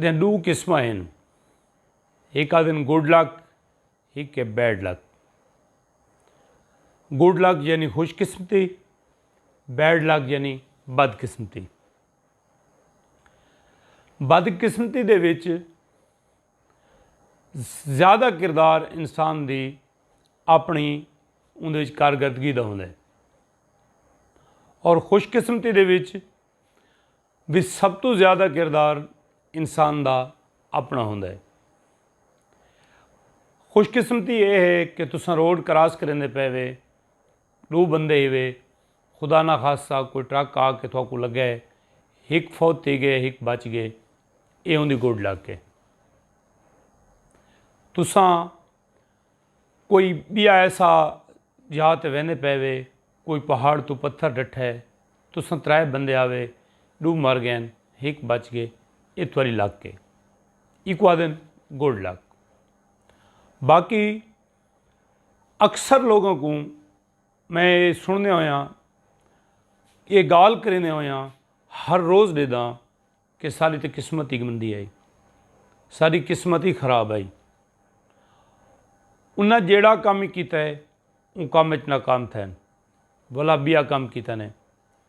دیاں ݙو قسماں ہن ہک آہدن گڈ لک ہک ہے بیڈ لک۔ گڈ لک یعنی خوش قسمتی بیڈ لک یعنی بد قسمتی۔ بد قسمتی دے وچ زیادہ کردار انسان دی اپݨی اوندے وچ کارکردگی دا ہوندے اور خوش قسمتی دے وچ وچ سب توں زیادہ کردار انسان دا اپنا ہوندا ہے۔ خوش قسمتی اے ہے کہ تساں روڈ کراس کریندے پے وے ڈو بندے ہی وے خدا نہ خاصا کوئی ٹرک آ کے تھوکو لگا ہے ہک فوت تھی گئے ہک بچ گئے اے اوندی گڈ لگ کے تساں کوئی بیا ایسا جہاں تے ویندے پے وے کوئی پہاڑ توں پتھر ڈٹھے، تساں ترائے بندے آوے، ڈو مر گئن، ہک بچ گئے، اے تہاڈی لک اے، ایکوں آدھن گڈ لک۔ باقی اکثر لوگاں کوں میں اے سنڑدیاں ہویاں، اے گالھ کریندے ہویاں ہر روز ڈیداں۔ کہ ساݙی تے قسمت ای گندی ہئی۔ ساݙی قسمت ای خراب ہئی۔ انہاں جیڑھا کم ای کیتا ہے اوں کم اچ ناکام تھئن۔ ولا ٻیا کم کیتن ہے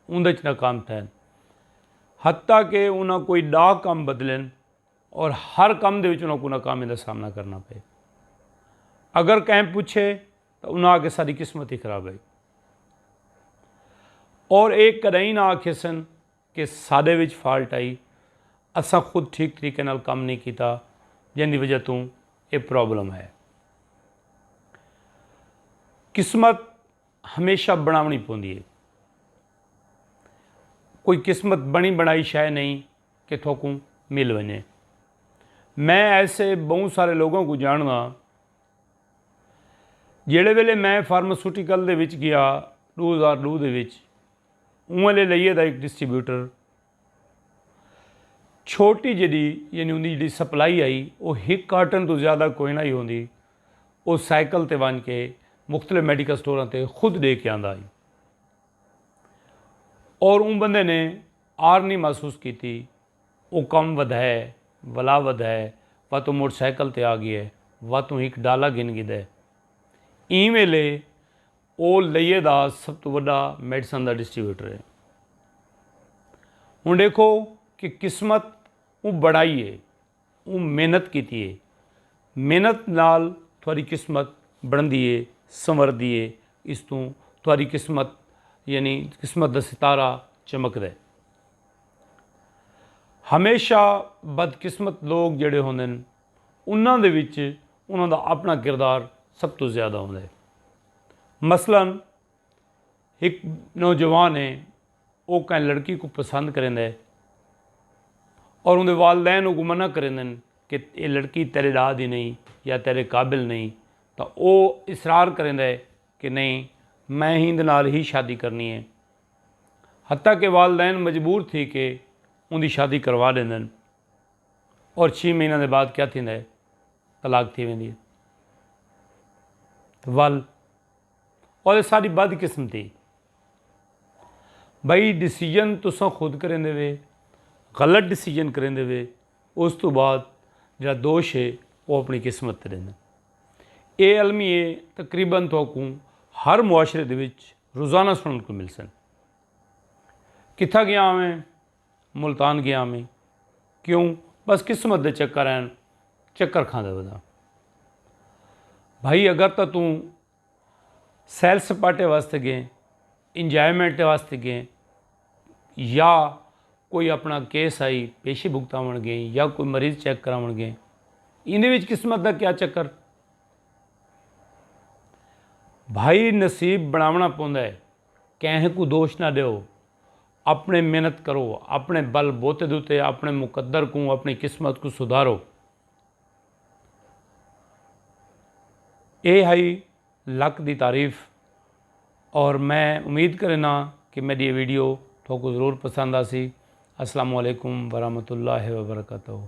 اوندے اچ ناکام تھئن۔ حتی کہ انہاں کوئی ݙاہ کم بدلن اور ہر کم دے وچ انہاں کوں ناکامی دا سامݨا کرݨا پئے۔ اگر کہیں پچھے تاں انہاں آکھے ساݙی قسمت ای خراب ہئی۔ اور ایہ کݙاہیں نہ آکھیسن کہ ساڈے وچ فالٹ آئی اساں خود ٹھیک طریقے نال کم نہیں کیتا جیندی وجہ توں اے پرابلم ہے۔ قسمت ہمیشہ بنڑاونڑی پوندی ہے۔ کوئی قسمت بنڑی بنڑائی شے نہیں کہ تھوکوں مل ونجے۔ میں ایسے بہوں سارے لوگاں کوں جانڑداں جیڑھے ویلے میں فارماسوٹیکل دے وچ گیا ڈو ہزار ڈو دے وچ اونویں لے لئیے دا ہک ڈسٹریبیوٹر چھوٹی جیڈی یعنی اوندی جیڈی سپلائی ہئی او ہک کارٹن توں زیادہ کوئ نہ ہئی ہوندی او سائیکل تے ونج کے مختلف میڈیکل سٹوراں تے خود ڈے کے آندا ہئی اور اوں بندے نے آر نی محسوس کیتی او کم ودھئے ولا ودھئے واتوں موٹر سائیکل تے آ گئے واتوں ہک ڈالا گھن گھدئے ایں ویلے او لئیے دا سب توں وݙا میڈیسن دا ڈسٹریبیوٹر ہے۔ ہݨ ݙیکھو کہ قسمت اوں بݨائی ہے، اوں محنت کیتی ہے، محنت نال تھوڑی قسمت بݨدی ہے، سنوردی ہے، اس توں تھوڑی قسمت یعنی قسمت دا ستارہ چمکدا ہے۔ ہمیشہ بدقسمت لوک جیڑھے ہوندن۔ انہاں دے وچ انہاں دا اپݨا کردار سب توں زیادہ ہوندا ہے۔ مثلا ہک نوجوان ہے او کہیں لڑکی کوں پسند کریندا ہے اور اوندے والدین اوکوں منع کریندن کہ ایہ لڑکی تیݙے ݙاہ دی نئیں یا تیݙے قابل نئیں تاں او اصرار کریندا ہے کہ نئیں میں ہیندے نال ہی شادی کرݨی ہے حتی کہ والدین مجبور تھی کے اوندی شادی کروا ݙیندن۔ اور چھی مہیناں دے بعد کیا تھیندا ہے طلاق تھی ویندی ہے ول اور ساری بد قسمتی بھائی ڈیسیجن تساں خود کریں دے وے غلط ڈیسیجن کریں دے وے اس تو بعد جڑا دوش ہے وہ اپنی قسمت تے دینا اے علمی ہے تقریبا تو کو ہر معاشرے دے وچ روزانہ سنن کو مل سن کتھا گیا ہوئے ملتان گیاں میں کیوں بس قسمت دے چکر ہیں چکر کھاندے بدا بھائی اگر تو توں سیل سپاٹے واسطے گئے انجوائمنٹ واسطے گئے یا کوئی اپنا کیس آئی پیشے بھگتاون گئے یا کوئی مریض چیک کراون گئے ان وچ قسمت دا کیا چکر بھائی نصیب بناونا پوندا ہے کہیں کو دوش نہ دیو اپݨے محنت کرو، اپݨے بل بوتے دے اتے اپݨے مقدر کوں، اپݨی قسمت کوں سدھارو۔ ایہ ہئی لک دی تعریف اور میں امید کرینداں کہ میڈی ایہ ویڈیو تہاکوں ضرور پسند آسی۔ السلام علیکم ورحمۃ اللہ وبرکاتہ۔